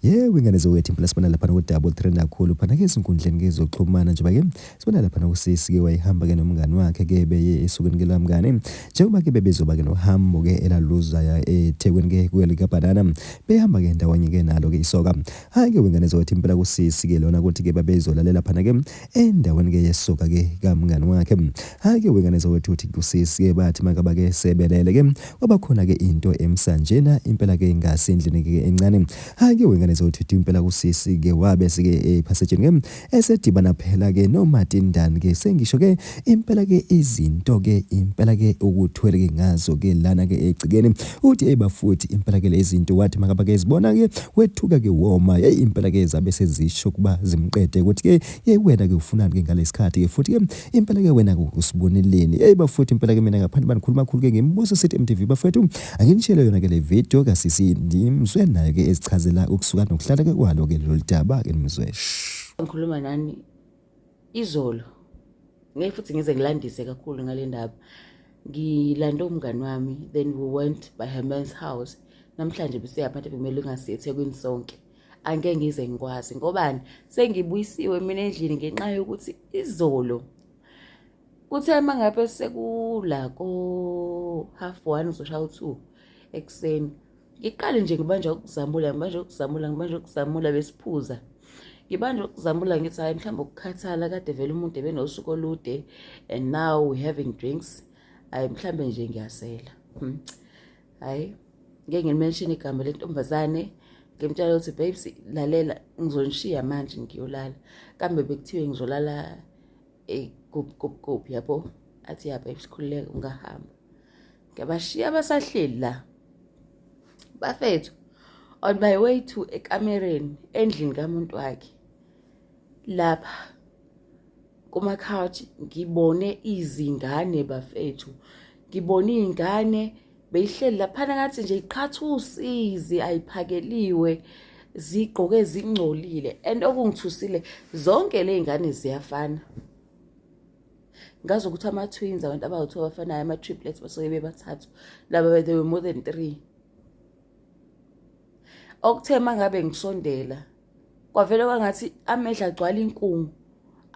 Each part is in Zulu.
Yebo ingane zowethu impela sibona lapha ku double trend kakhulu phana ke ezinkundleni ke zokuxhumana njengoba ke sibona lapha kusisi ke wayihamba ke nomngani wakhe ke beye esukeni ke lamngane njengoba ke bebezoba ke nohambo ke elaluzaya eThekwini ke kuye lika banana behamba ke ndawonye ke nalo ke isoka hayi ke wengane zowethu impela kusisi ke lona ukuthi ke babezolalela phana ke endaweni ke yesoka ke kamngani wakhe hake wengane zawethuthi kusisi ke bathi makaba ke sebelele ke kwaba khona ke into emsanjena impela ke ngase endlini ke encane hake wengane zawethuthi impela kusisi ke wabe sike ephasetsheni ke esedibana phela ke no Martin Dan ke sengisho ke Impela ke izinto ke impela ke ukuthwele ke ngazo ke lana ke egcikeni uthi hey bafuthi impela ke lezinto wathi makaba ke zibona ke wethuka ke woma hey impela ke zabe sezisho kuba zimqede ukuthi ke hey wena ke ufunani ke ngalesikhathi ke futhi ke impela ke wena usiboneleni hey bafuthi impela ke mina ngaphandle banikhuluma khulu ke ngimbuso sithi MTV bafethu anginishele yona ke le video ka sisi ndimzwe nayo ke ezichazela ukusuka nokuhlala ke kwalo ke loludaba ke nimzwe ngikhuluma nani izolo ngeke futhi ngize ngilandise kakhulu ngale ndaba ngilande umngani wami then we went by her man's house namhlanje besiya phathe kumele ungasiye ethekwini sonke angeke ngize ngikwazi ngobani sengibuyisiwe mina endlini ngenxa yokuthi izolo kuthe uma ngabe sekula ko-half one uzoshaya u-two ekuseni ngiqale nje ngibanje ukuzamula ngibanje ukuzamula ngibanje ukuzamula besiphuza ngibanje ukuzamula ngithi hhayi mhlawumbe ukukhathala kade vele umuntu ebenosuku olude and now we having drinks hhayi mhlawumbe nje ngiyasela hmm. hhayi ngeke ngilimenshini igama lentombazane ngimtshela ukuthi babes lalela ngizonishiya manje ngiyolala kambe bekuthiwe ngizolala eh, kuphi kuphi kuphi yabo athi ya babes khululeka ungahamba ngiyabashiya basahleli la bafethu on my way to ekamereni endlini kamuntu wakhe lapha kuma-couch ngibone izingane bafethu ngibone iy'ngane beyihleli laphana ngathi nje iqhatha usizi ayiphakeliwe zigqoke zingcolile and okungithusile zonke ley'ngane ziyafana ngazi ukuthi ama-twins abantu abawu-two abafanayo ama-triplets basuke bebathathu laba they were more than three okuthe ma ngabe ngisondela kwavele kwangathi amehla agcwala inkungu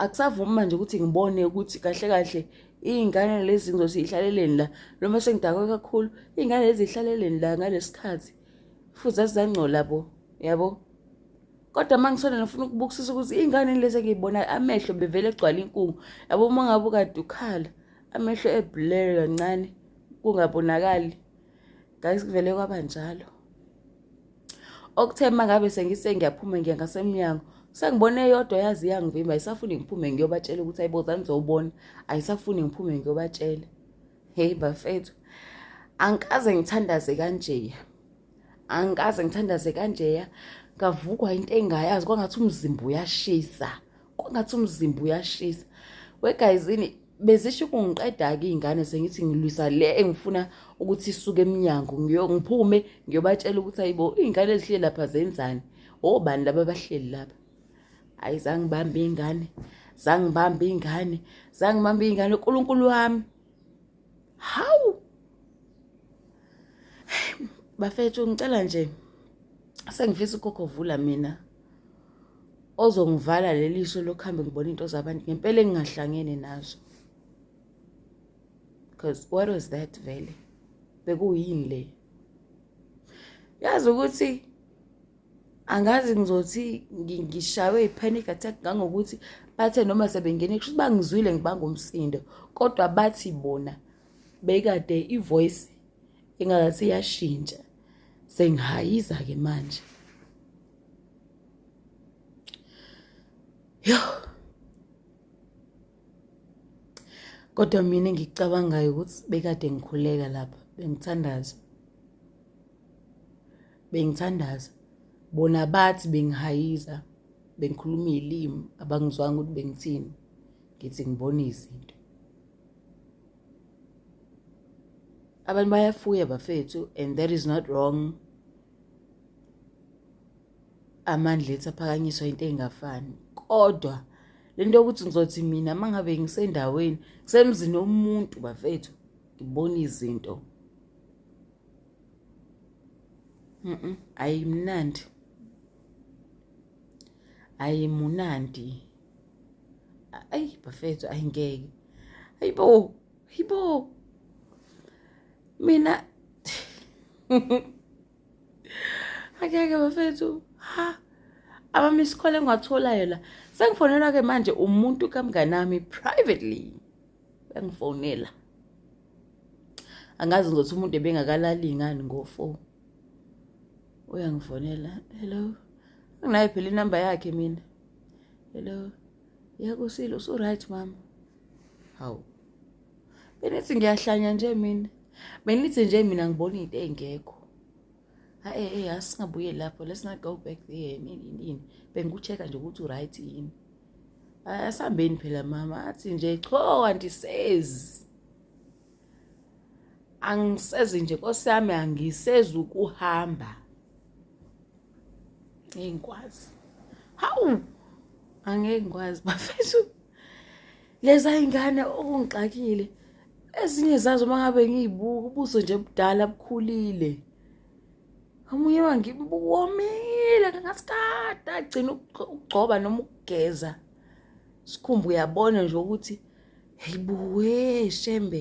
akusavumi manje ukuthi ngibone ukuthi kahle kahle iy'ngane lezi zinto ziyihlaleleni la noma sengidakwe kakhulu iy'ngane lezi zihlaleleni la ngalesi khathi futhi zazizangcola bo yabo kodwa uma ngisona ngifuna ukubukisisa ukuthi iy'ngane lezi engiyibonayo amehlo bevele egcwala inkungu yabo uma ngabe ukade ukhala amehlo eblur kancane kungabonakali guys kuvele kwaba njalo okuthe uma ngabe sengise ngiyaphuma ngiya ngasemnyango sengibone eyodwa yazi iyangivimba ayisafuni ngiphume ngiyobatshela ukuthi ayibozani zowubona ayisafuni ngiphume ngiyobatshela heyi bafethu angikaze ngithandaze kanjeya angikaze ngithandaze kanjeya ngavukwa into engayazi kwangathi umzimba uyashisa kwangathi umzimba uyashisa wegayizini bezisho ukungiqeda-ke iy'ngane sengithi ngilwisa le engifuna ukuthi isuke emnyango ngiphume ngiyobatshela ukuthi ayibo iy'ngane ezihleli lapha zenzani obani laba abahleli lapha ayi zangibambe iy'ngane zangibambe iy'ngane zangibambe iy'ngane unkulunkulu wami hawu bafethu ngicela nje sengifisa ukhokho vula mina ozongivala leli so lokuhambe ngibona into zabantu ngempela engingahlangene nazo because what was that vele bekuyini le yazi ukuthi angazi ngizothi ngishaywe i-panic attack ngangokuthi bathe noma sebengene kusho ukuthi bangizwile ngibanga umsindo kodwa bathi bona bekade i-voice ingakathi iyashintsha sengihayiza-ke manje yo kodwa mina ngikucabangayo ukuthi bekade ngikhuleka lapha bengithandaza bengithandaza bona bathi bengihayiza bengikhuluma izilimi abangizwanga ukuthi bengithini ngithi ngibona izinto abantu bayafuya bafethu and that is not wrong amandla ethi aphakanyiswa into engafani kodwa lento yokuthi ngizothi mina mangabe ngisendaweni kusemzini omuntu bafethu ngibona izinto mhm ayimnandi ayimunandi ay bafethu ayingeke ayibo ayibo mina akeke bafethu ha abami isikole engiwatholayo la sengifonelwa ke manje umuntu kamnganami privately bengifonela angazi ngothi umuntu ebengakalali ngani ngofo uyangifonela hello anginayo phela inamba yakhe mina hello yakusile usuright mama hawu benithi ngiyahlanya nje mina benithi nje mina ngibona into engekho hayi eh, eh, asingabuye lapho let's not go back there nini bengikucheka nje ukuthi uright yini asambeni phela mama athi nje cho andisezi angisezi nje nkosi yami angisezi ukuhamba ngikwazi hawu angeke ngikwazi bafethu leza ingane okungixakile ezinye zazo mangabe ngiyibuka ubuso nje budala bukhulile omunye wangibuwomile ngasikade agcina ukugcoba noma ukugeza sikhumbu uyabona nje ukuthi heyibuwe shembe